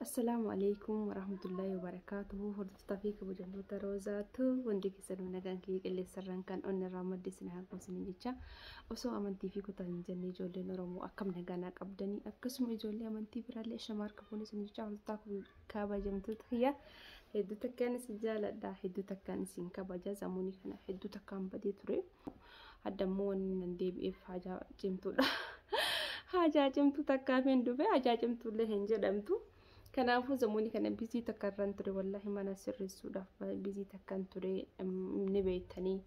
Assalaamu alaikum warahmatullahi wabarakatuhu hordoftaa fi kabajamtoota roozaatu hundi keessanuu nagaan kiyya qilleensarraan kan onni irraa madde isin haa goosanii jecha osoo amantii fi kutaa hin jenne ijoolleen oromoo akkam nagaan qabdanii akkasuma ijoollee amantii biraallee shamaa harka fuunee isin jecha hordoftaa kabajamtoota kiyya hedduu takkaan isin jaaladha hedduu takkaan isin kabaja zamuunii kana hedduu takkaan badee ture. Hadda immoo wanni nan deebi'eef haajaa cimtuudha. Haajaa cimtuu takkaaf hin dhufe haajaa cimtuullee hin jedhamtu. Kanaafuu zamuuni kana bizii takka irraan ture wallaahi mana sirreessuudhaaf bizii takkan ture ni beektanii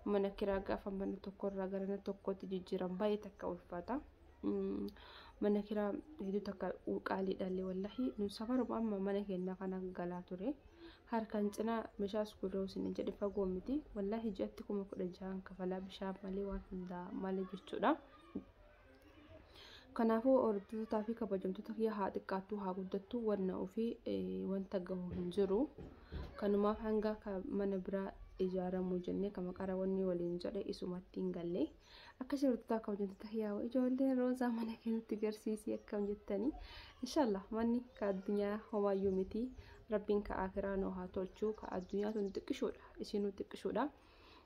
mana kiraa gaafa mana tokko irraa gara mana tokkootti jijjiiran baay'ee takka ulfaata. Mana kiraa hedduu takka qaaliidhaallee wallaahi nu safaruma amma mana keenya kana galaa ture. Harkaan cinaa meshaa sugudaa usini jedhe fagoo miti wallahi ji'atti kuma kudha jahan kafalaa bishaan malee waan hundaa malee jechuudha. Kanaafuu hordoftotaa fi kabajamtoota kiyya haa xiqqaattuu haa guddattuu wanna ofii wanta gahu hin jiru. Kanumaaf hanga mana biraa ijaaramu jennee kama qara wanni waliin jedhe isumatti hin galle. Akka shortotaa kabajamtoota hiyaawa ijoolleen roozaa mana keenyatti garsiisii akkam jettanii inshallah manni ka addunyaa homaayyuu miti rabbiin ka akiraa nuu haa tolchuu ka addunyaa tun xiqqishoodha isinuu xiqqishoodha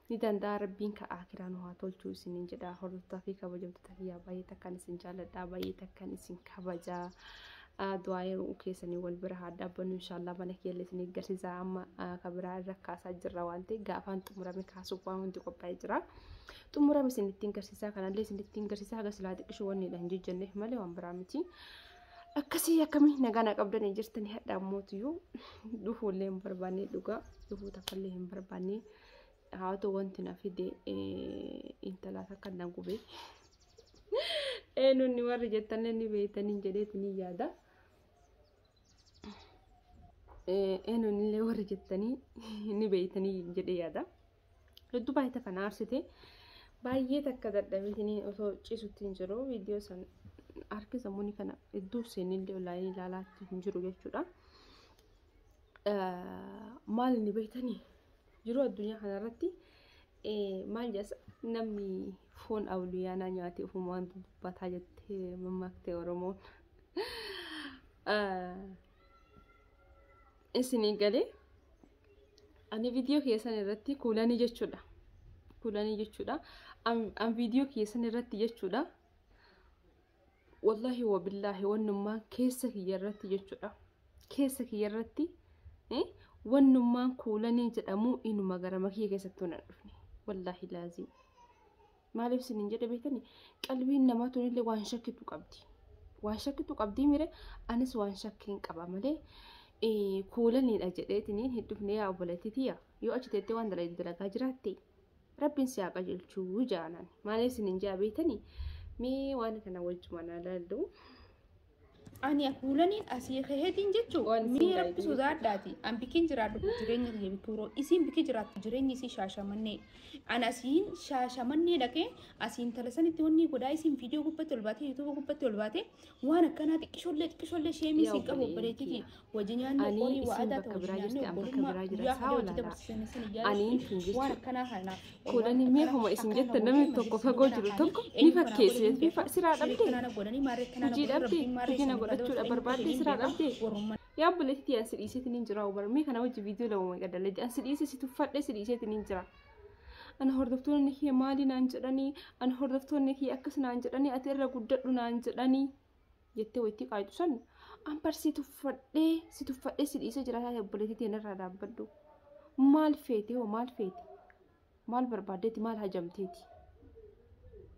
ni danda'a rabbiin ka akiraa nuu haa tolchuu isiniin jedha hordoftaa fi kabajamtoota hiyyaa baay'ee takkan isin jaalladha baay'ee takkan isin kabajaa du'aa yeroo keessanii wal bira haa dhaabbannu inshaallah mana keelle isin eeggarsiisa amma ka biraa irra kaasaa jirra waan ta'e gaafaan xumurame kaasuuf waan hundi qophaa'ee jira xumurame isin ittiin garsiisaa kanallee isin ittiin garsiisaa haga silaa xiqqishu wanni dha hin jejjenneef malee waan biraa miti akkasii akkamii nagaa na qabdanii jirtanii hadha ammootiyyuu dhufuullee hin barbaanne dhugaa dhufuu takkaallee hin barbaanne haa ta'u wanti na fide intalaa takka na gubee. Eenyuun warri jettanillee ni beektaniin jedheeti ni yaada. Eenyuun illee warri jettanii ni beektanii jedhee yaada. Hedduu baay'ee takka na aarsite. Baay'ee takka dadhabitanii osoo cisutti hin jiru. Viidiyoo san harki sammuun kana hedduu seenillee olaayinii ilaalaatti hin jiru jechuudha. Maal ni beektanii? Jiruu addunyaa kanarratti maal jedhas namni foon awliyaanaa nyaate ofuma waan dubbataa jettee mammaaktee Oromoon. Isinii galee ani viidiyoo keessan irratti kuulanii jechuudha. Kuulanii jechuudha. An viidiyoo keessan irratti jechuudha. wallahi wabillahi wannummaan keessa kiyya irratti jechuudha keessa kiyya irratti eh, wannummaan kuulanii jedhamu inuma gara makiyya keessatti tun hin dhufne wallahi laazim maaliif sin hin jedhe beektani qalbiin namaa tunillee waan shakkitu qabdi waan shakkitu qabdii mire anis waan shakkiin qaba malee eh, kuulaniidha jedheetiniin hin dhufne yaa obboleetti tiyya yoo achi teettee waan dalagde dalagaa jiraatte Rabbiin si haa qajeelchuu jaanan. Maalee isin hin jaa beeytanii mee waan kana wajjuma na laallu. Ani akuulaniin asii kehetiin jechuun Waan isin mee rabbi baay'ee sodaadhaati. An bikin jiraadhu jireenya kiyya bikuuroo. Isiin biki jiraattu jireenyi isii shaashamannee. An asiin shaashamannee dhaqee asiin talasanitti wanni godhaa isiin viidiyoo gubbatti ol baatee yuutuuba gubbatti ol baatee waan akkanaa xiqqishoollee xiqqishoollee sheemii Yaa siin qabu obboleettii obboleettii kiyya. Wajji nyaanni Anii horii isin wa'adaa bakka ta'u biraa nyaanni jirti, an bakka obbolummaa biraa jira. guyyaa Saa hunda hojii walaala. dabarsiisanii sana Anii ijaaruu isin jechuudha. waan akkanaa kana Kuudhanii mee homa isin jettan namni tokko fagoo jiru tokko ni fakkeessi jettee fa- siraa dhabdee? Hojii dhabdee? Hojii na godhachuu dha barbaaddee siraa dhabdee? Yaa obboleettii an si dhiiseetiin hin jira obar mee kana wajji viidiyoo lama maqaa dalagde an si dhiise si tuffadhe si dhiiseetiin hin jira. Ana hordoftoonni kee maali naan jedhanii ana hordoftoonni kee akkas naan jedhanii ati irra guddadhu naan jedhanii. jettee wayittii qaayxu san an bar si tuffadhee si tuffadhee si dhiisee jira taate obboleettii teen irraa dhaabbadhu maal feete hoo maal feete maal barbaaddeeti maal hajamteeti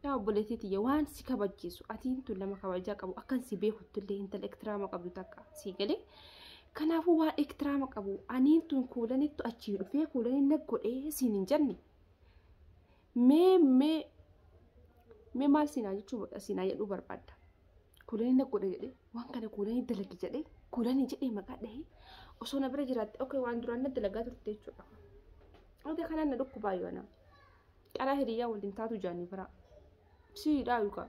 yaa obboleettii tiyya waan si kabachiisu atiin tun nama kabajaa qabu akkan si beekuttullee intala ektiraama qabdu takka sii galee kanaafuu waan ektiraama qabu aniin tun kuulanittu achii dhufee kuulanin na godhee siin hin jenne mee mee mee maal siinaa jechuu godha siinaa jedhuu barbaadda kuulanii na godha jedhee waan kana kuulanii dalagi jedhee kuulanii jedhee maqaa dhahee osoo na bira jiraatte ok waan duraan na dalagaa turte jechuudha ok kanaan na dhukkubaa yoo anaa qaraa hiriyyaa waliin taatu jaanii biraa siidhaa yuukaa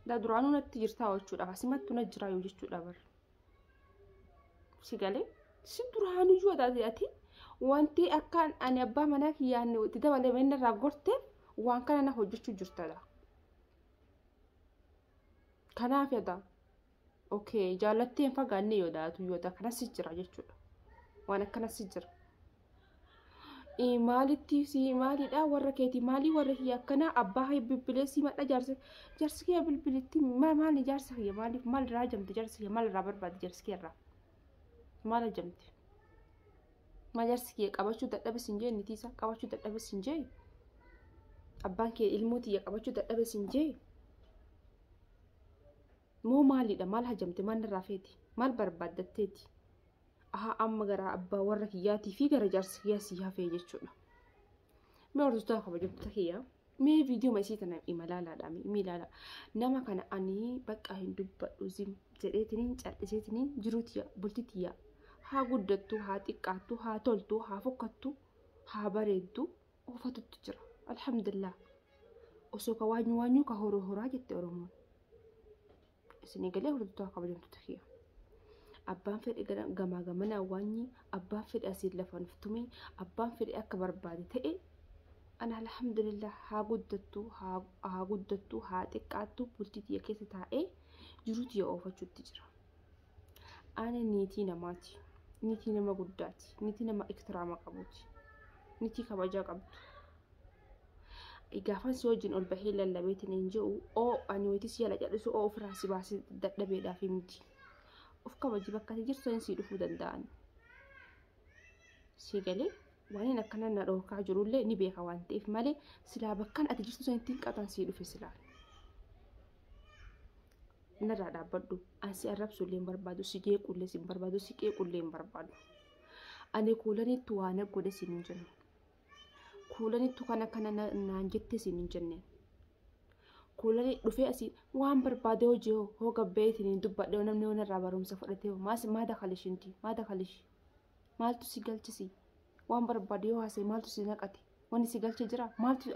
daa duraanuu natti jirtaa jechuudha asimattu na jiraa yoo jechuudha barra si galee si duraanuyyuu ati ati wanti akkaan ani abbaa manaa kiyyaan itti dabalame inni irraa gorteef waan kana na hojjechuu jirtadha. Kanaaf yada okay jaallattee hin fagaanne yoo daatu yoo ta'e akkanas jira jechuudha waan akkanas jira. maalitti si maalidha warra keeti maalii warra kiyya akkana abbaa kee bilbilee si madha jaarsa jaarsi kiyya bilbilitti maali jaarsa kiyya maaliif maal irraa jamte jaarsa kiyya maal irraa barbaade jaarsi kiyya irraa maal jamte maal jaarsi kiyya qabachuu dadhabes hin jee nitii isaa qabachuu dadhabes hin jee abbaan kee ilmoo tiyya qabachuu dadhabes hin jee moo maalidha maal hajamte maal irraa feeti maal barbaaddatteeti aha amma gara abbaa warra kiyyaatii fi gara jaarsa kiyyaa sii hafee jechuudha. Mee hordoftoota kabajamtoota kiyyaa mee viidiyoo masii tana imalaalaadha miilaala nama kana ani bakka hin dubbadhu zim jedheetiniin cal'iseetiniin jiruuti bultiti yaa haa guddattu haa xiqqaattu haa toltu haa fokkattu haa bareeddu oofatutti jira alhamdulillah osoo ka waanyu waanyu ka horoo horaa jette oromoon. isinii galee hordoftoota kabajamtoota kiyya. Abbaan fedhe gara- gamaa gamanaa waanyi abbaan fedhe asiin lafa nuuf tume abbaan fedhe akka barbaade ta'e an alhamdulillah haa guddattu haa haa guddattu haa xiqqaattu bultii tiyya keessa taa'ee jiruu tiyya oofachuutti jira. Ani niitii namaati. Niitii nama guddaati. Niitii nama iktiraama qabuuti. Niitii kabajaa qabdu. gaafan si wajjin ol bahee lallabeetiin hin je'u oo ani wayiti si jala cadhisu oo ofirraa si baasi dadhabeedhaaf miti of kabaji bakka ati jirtu sanii sii dhufuu danda'an sii galee waan akkana na dhookaa jirullee ni beeka waan ta'eef malee silaa bakkan ati jirtu sanitti hin qataan sii dhufe silaa narraa dhaabbadhu an si arrabsu illee hin barbaadu si jeequ illee si hin barbaadu si qeequ illee hin barbaadu ani kuulanitti waan godhe siin hin jiru kuulanittu kana kana na- naan jettee siin hin jenne kuulani dhufee asii waan barbaade hojii hoo hoo gabbeetiin hin dubbadhe hoo namni waan irraa barumsa fudhatee hoo maas maada kalishinti maada kalishi maaltu si galchisi waan barbaade yoo haasee maaltu si naqate wanni si galche jira maaltu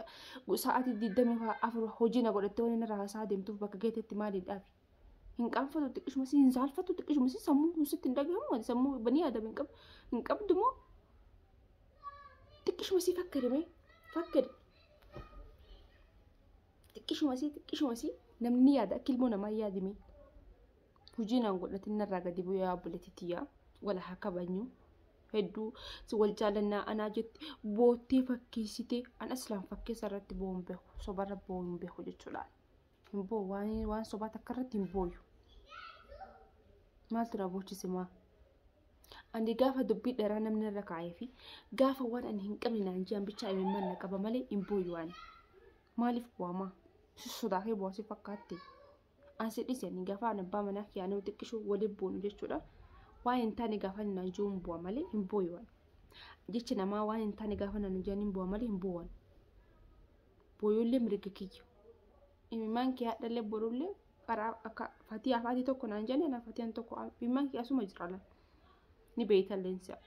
sa'aatii digdamii afur hojii na godhatte waan inni irraa haasaa deemtuuf bakka geetetti maaliin dhaabi hin qaanfatu xiqqishuma si hin saalfatu xiqqishuma si sammuu kun sitti hin dhagahamu ati sammuu banii aadam hin qabdu hin qabdu moo xiqqishuma si fakkade mee fakkade xiqqishuma si xiqqishuma si namni yaada akka ilmoo namaa yaadi mee hojii naan godhatin narraa gadi bu'ee obboleettitti yaa wala haa kabajnu hedduu si wal jaalannaa anaa jette boottee fakkeessitee an aslaan fakkeessa irratti bo'uun beeku sobarra bo'uun beeku jechuudhaan. hin boo waan waan sobaa takka irratti hin booyu maaltu na boochise maa ani gaafa dubbii dheeraa namni irra kaa'ee fi gaafa waan ani hin qabne naan jiran bichaa imimmaan na qaba malee hin booyu ani maaliif bu'amaa si sodaatee bu'aa si fakkaatte an si dhise ani gaafa an abbaa manaa kiyyaa nama xiqqishu waliin buunu jechuudha waan hin taane gaafa ani naan jiruun bu'a malee hin booyu ani jecha namaa waan hin taane gaafa naan jiran hin bu'a malee hin bu'u ani booyullee mirga kiyya imimmaan kee hadhallee borullee qaraa akka fatii afaatii tokko naan jenne na fatiyan tokko imimmaan kee asuma jira lan ni beeytan leensa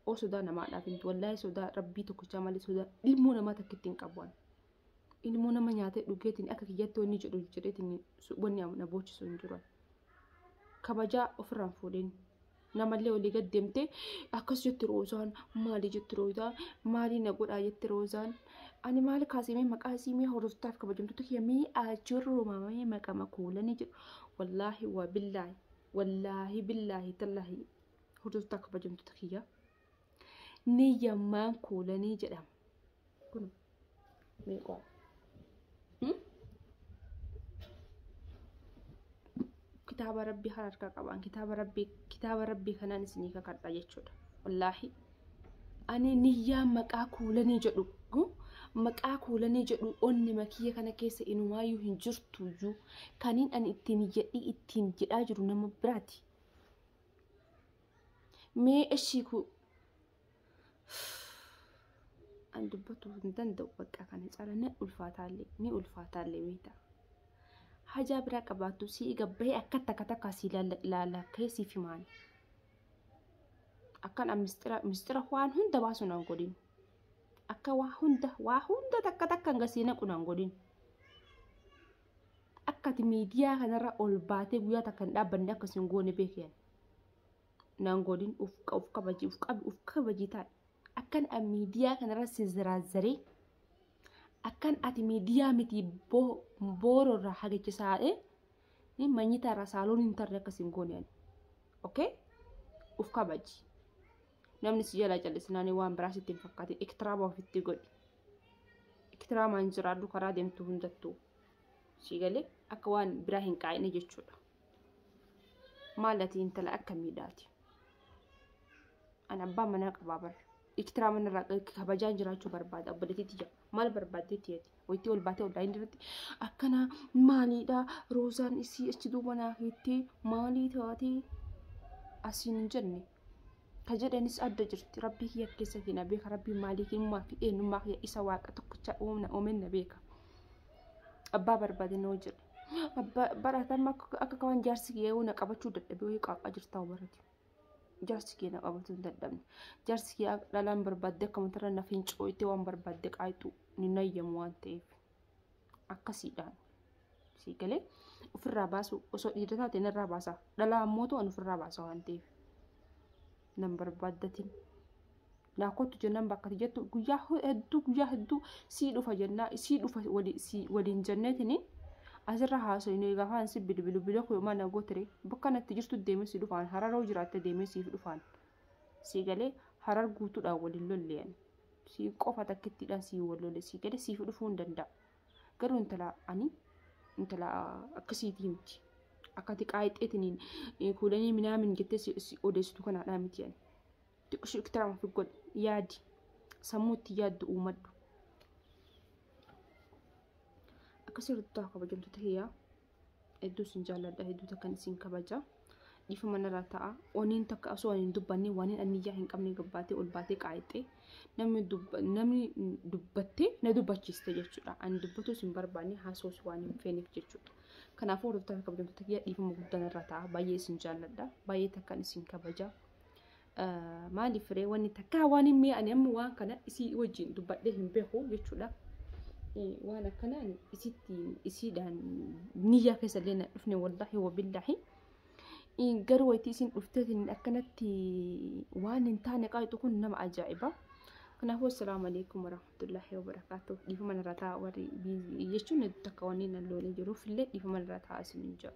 oo sodaa namaa dhaabintu wallaahi sodaa rabbii tokkochaa malee sodaa ilmoo namaa takkitti hin qabu ani ilmoo nama nyaatee dhugeetiin akka kiyyatti wanni jedhu jedheetiin wanni na boochisu hin jiru kabajaa ofirraan fuudheen namallee olii gad deemtee akkas jetti roozaan maali jetti roozaan maali na godhaa jetti roozaan ani maal kaasimee maqaa isiimee hordoftaaf kabajamtoota kiyya mee achirroo maamamee maqama koolanii jedhu wallaahi waa billaahi wallaahi billaahi tallaahi hordoftaa kabajamtoota kiyya ni yammaan kuulanii jedhama. Kun meeqaa? Kitaaba rabbii kan harkaa qabaan kitaaba rabbii kitaaba rabbii kanaan isinii kakadha jechuudha. Wallaahi ani niyyaa maqaa kuulanii jedhu maqaa kuulanii jedhu onni makiyya kana keessa inumaayyuu hin jirtuyyuu kaniin ani ittiin iyyadhii ittiin jedhaa jiru nama biraati. mee eshii ku an dubbatu hin danda'u bakka kana cala ni ulfaataallee ni ulfaataallee beekta hajaa biraa qabaattu si'i gabbahee akka takka takka sii laalakkee siif himaan akkan an mistira mistira waan hunda baasu nan godhin akka waa hunda waa hunda takka takka hanga sii naqu nan godhin Akka ati miidiyaa kanarra ol baatee guyyaa takka hin dhaabbanne akka isin goone beekiyan. Naan godhin uf qa- uf kabaji uf qabi uf kabaji taa'e. Akkan an miidiyaa kanarra si ziraazzaree akkan ati miidiyaa miti boo- boororra hagichisaa'ee ni manyitaarra saaloon hin tarre akka isin goone ani. Okay? Uf kabaji. namni si jalaa callisnaan waan biraa sitti hin fakkaatin iktiraama ofitti godhi iktiraamaan jiraadhu karaa deemtu hundattuu si galee akka waan biraa hin qaa'ine jechuudha maal ati intala akka miidhaati an abbaa manaa qabaa bara iktiraama irraa kabajaan jiraachuu barbaada obboleetitti jira maal barbaaddeetti jetti wayittii ol baatee ollaa inni irratti akkana maaliidha roozaan isii achi duuba naa hiittee maalii taatee asiin hin jenne ka jedhanis adda jirti rabbii kiyya keessa kiyya na beeka rabbii maalii kiyya fi eenyummaa kiyya isa waaqa tokkicha uumna uumen na beeka abbaa barbaade noo jedhe baratamma akka kawaan jaarsi kiyya yoo na qabachuu dadhabe wayii qaaqaa jirtaa barate jaarsi kiyya na qabachuu hin dadhabne jaarsi kiyya dhalaan barbaadde akka matarra na fincooyte waan barbaadde qaayxu ni nayyamu waan ta'eef. akkasiidhaan sii galee ofirraa baasuu osoo dhiira taate narraa baasaa dhalaa ammoo ta'an ofirraa baasaa waan ta'eef nan barbaaddatin naa kottu jennaan bakka ati jettu guyyaa hedduu guyyaa hedduu sii dhufa jennaa sii dhufa wali- sii- waliin jenneetini asirra haasofne gafaan si bilbilu biloo koo yooma na gootere bakka natti jirtu deemee si dhufaan hararoo jiraatte deemee siif dhufaan sii galee harar guutuudhaan wal hin lolle ani sii qofa takkittiidhaan sii wal lolle sii galee siif dhufuu hin danda'a garuu intala ani intala akkasiitii miti akka tiqaa hixxeetiniin kuulanii minaamin jettee si si odeessitu kanaadhaa miti ani xiqqishuu iktiraama fi godhi yaadi sammuutti yaaddu uumadhu akkasii ruttaa kabajamtoota hiyyaa Hedduu isin jaalladha, hedduu takkan isin kabaja. Dhiifama narraa ta'a. Oniin takka osoo hin dubbanne waan hin anniyyaa hin qabne gabbaatee ol baatee qaayixxee namni dubba- namni dubbattee na dubbachiiste jechuudha. Ani dubbatuus hin barbaanne haasawus waan hin feeneef jechuudha. Kanaafuu hordoftoota kabajamtoota kiyya dhiifama guddaa narraa ta'a. Baay'ee isin jaalladha. Baay'ee takkan isin kabaja. maaliif ree wanni takkaa waan hin mi'aane amma waan kana isii wajjin dubbadhee hin beeku jechuudha. Waan akkanaan isitti isiidhaan niyyaa keessa illee na dhufne wallaahi wabillaahi. Garuu wayitii isin dhufteetiin akkanatti waan hin taane qaayxu kun nama ajaa'iba. Kanaafuu assalaamu alaikum warahmatullaahi wabarakaatu. Dhiifama narraa ta'a warri jechuun takka wanni nan loolee jiruuf illee dhiifama narraa ta'a isin hin jedhu.